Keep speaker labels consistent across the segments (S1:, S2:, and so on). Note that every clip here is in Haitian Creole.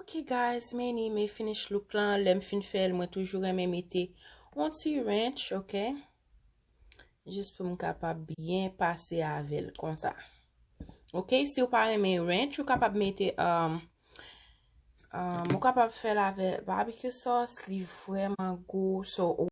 S1: Ok guys many me finish look lan lèm fin fèl mwen toujou renmen mete on ti ranch ok jis pou m kapab byen pase avèl konsa ok si ou pa renmen ranch ou kapab mete um, um, ou kapab fèl avè barbecue sauce li vreman gou so ou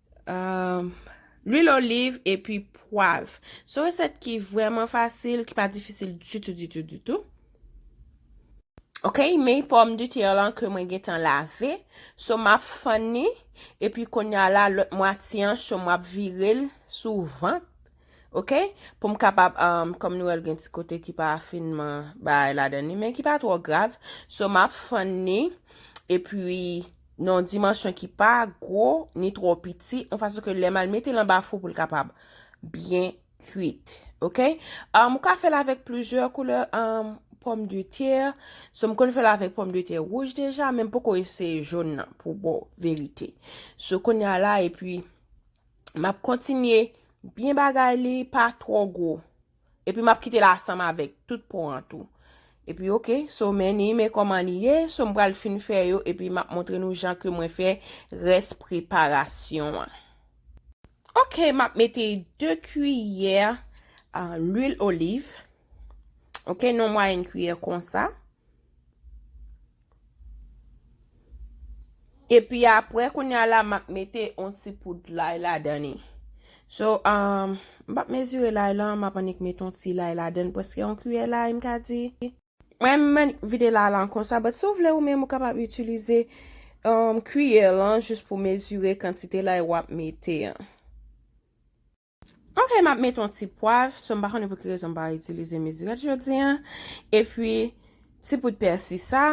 S1: Lwil oliv epi pwav. Son resèt ki vreman fasil, ki pa difisil ditou, ditou, ditou. Ok, men pòm de tè lan ke mwen gen tan lave. So map fann ni, epi konya la lòt mwatiyan, so map virel sou vant. Ok pou m kapab kòm nou wèl gen ti kote ki pa finman bay la dan ni men ki pa twò grav so map fann ni e pi non dimansyon ki pa gwo ni twò piti an fason ke lè mal mete lan ba fou pou l kapab byen kwit ok m ka fèl avèk plizyè koulè an pòm de tè so m konn fèl avèk pòm de tè wouj deja men m poko eseye joun nan pou bon verite so konn ya la e pi Map kontinye byen bagay li pa tro gwo. Epi map kite la asanm avek tout pon an tou. Epi ok, so men ni men koman li ye, so m pral fin fè yo epi map montre nou jan ke mwen fè res preparasyon an. Ok, map mete 2 kiyè lwil oliv. Ok, non mwayenn kiyè konsa. Epi apre kounya la map mete on ti poud lay ladan ni. So, um, m pap mezire lay lan, map anik mete on ti lay ladan preske on kuyè lay m ka di. Mwen men vide lay lan konsa, but si w vle ou menm ou kapab itilize um, kuyè lan jis pou mezire kantite lay wap mete an. Ok map met yon ti pwav, so m pa konnen pou ki rezon m pa itilize mezirèt jodi an, epi ti poud pèsi sa,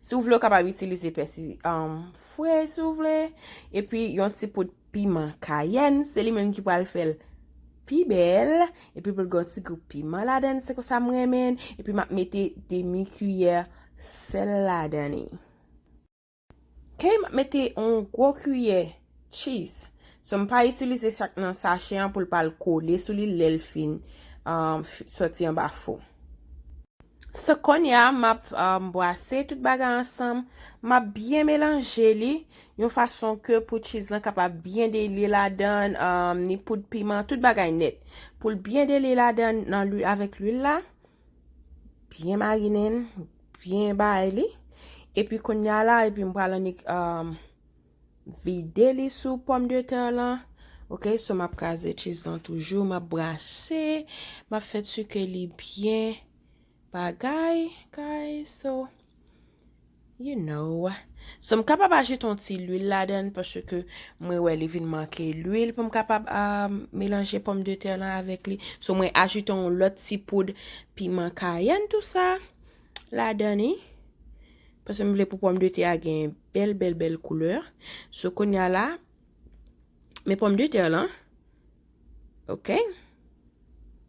S1: si ou vle ou kapab itilize pèsi fre si ou vle, epi yon ti poud piman kayèn, se li menm ki pral fèl pi bèl, epi pou l gen yon ti gou piman ladan, se konsa m renmen, epi map mete demi kiyè sèl ladan li. Kay map mete yon gwo kiyè cheese so m pa itilize chak nan sachè an poul pal kole sou li lèl fin soti anba fou. So konya map bwase tout bagay ansanm, map byen melanje li yon fason ke pou cheese lan kapab byen delye ladan ni poud piman tout bagay nèt poul byen delye ladan avèk lwil la Byen marinen l, byen bay li. Epi konya la, epi m pral annik um, vide li sou pòm de tè lan. Ok, so m ap kraze cheese lan toujou, m ap brase, m ap fè ti ke li byen bagay, guys, so. You know. So m kapab ajoute yon ti lwil ladann paske mwen wè li vin manke lwil pou m kapab a melanje pòm de tè lan avèk li. So mwen ajoute yon lòt ti poud piman kayenn tou sa ladann ni. Paske m vle pou pòm de tè a gen bèl bèl bèl koulè. So konya la men pòm de tè lan. Ok.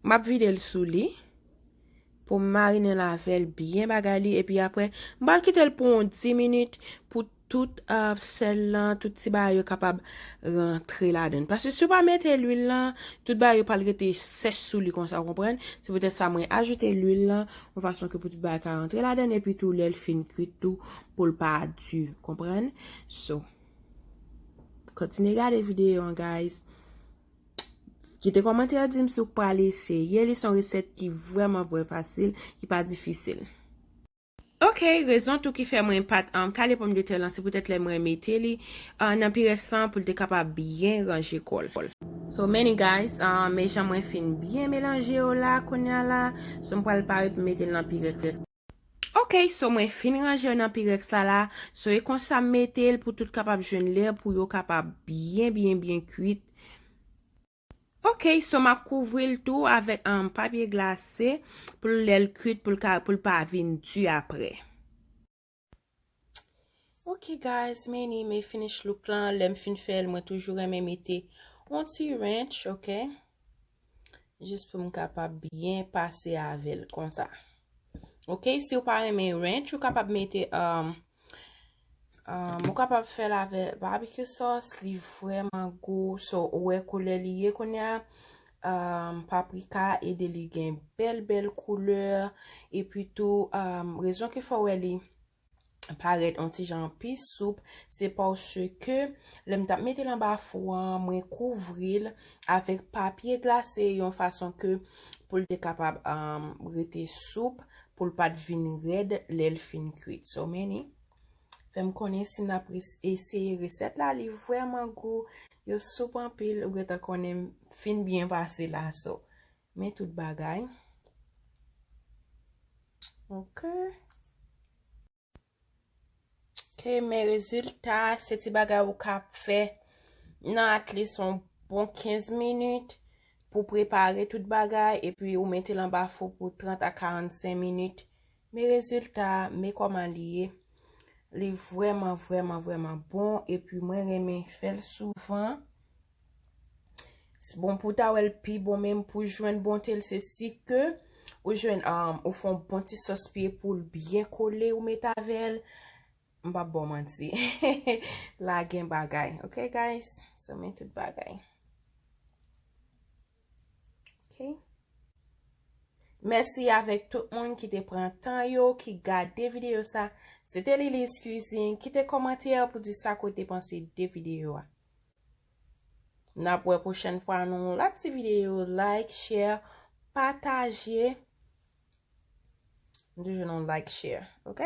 S1: M ap vide l sou li. Poum marinel avèl byen bagay li epi aprè m pral kitel pou yon 10 minit pou tout sèl lan tout ti bagay yo kapab rantre ladann paske siw pa mete lwil lan tout bagay yo pral rete sèch sou li konsa ou konprann se poutèt sa mwen ajoute lwil lan yon fason ke pou tout bagay ka rantre ladann epi tou lèl fin kwit tou poul pa di konprann so kontinye gade videyo an guys. Kite kòmantè a dim si w pral eseye li, se yon resèt ki vrèman vrè fasil, ki pa difisil. Ok, rezon tou ki fè mwen pat kale pòmdetè lan se poutèt lè mwen mete li nan pirèks lan pou l te kapab byen ranje kò l. So many guys, men jan mwen fin byen melanje yo la kounya la, so m pral pare pou m mete l nan pirèks. Ok so mwen fin ranje yo nan pirex la la so e konsa m metel pou tout kapab jwenn lè pou yo kapab byen byen byen kuit ok so map kouvril tou avèk papye glase pou lèl kuit pou l ka pou l pa vin di aprè. Ok guys men ni men finish look lan lèm fin fèl mwen toujou renmen mete yon ti ranch ok jis pou m kapab byen pase avèl konsa ok si ou pa renmen ranch ou kapab mete um, um, ou kapab fèl avè barbecue sauce li vrèman gou so ou wè koulè li ye kounye a Paprika ede li gen bèl bèl koulè epi tou rezon ki fè w wè li parèt yon ti jan pi soup se paske lè m t ap mete l anba fou a mwen kouvri l avèk papye glase yon fason ke pou l te kapab rete soup pou l pa t vin rèd lè l fin kuit. Fè m konnen si n ap eseye resèt la, li vrèman gou, yo soup anpil, ou gentan konnen m fin byen pase la so. Men tout bagay. Ok. Ok, men rezilta, se ti bagay ou ka fè nan atli son bon 15 minit pou prepare tout bagay, epi ou mete l anba fou pou 30 a 45 minit. Me rezilta a, me kòman li ye. Li vrèman, vrèman, vrèman bon. E pi mwen renmen fè l souvan. Bon, pou w ta wè l pi bon menm, pou w jwenn bonte l, se si ke ou jwenn, ou fè yon bon ti sòs piye pou l byen kole ou met avè l. M pap ba w manti. La gen bagay. Ok guys? So men tout bagay. Mèsi avèk tout moun ki te pran tan yo, ki gade videyo sa. Se te Lilis Cuisine. Kite kòmantè pou di sa kote panse de videyo a. N ap wè pwochèn fwa nou yon lòt ti videyo. Like, share, pataje. M toujou nan like, share. Ok?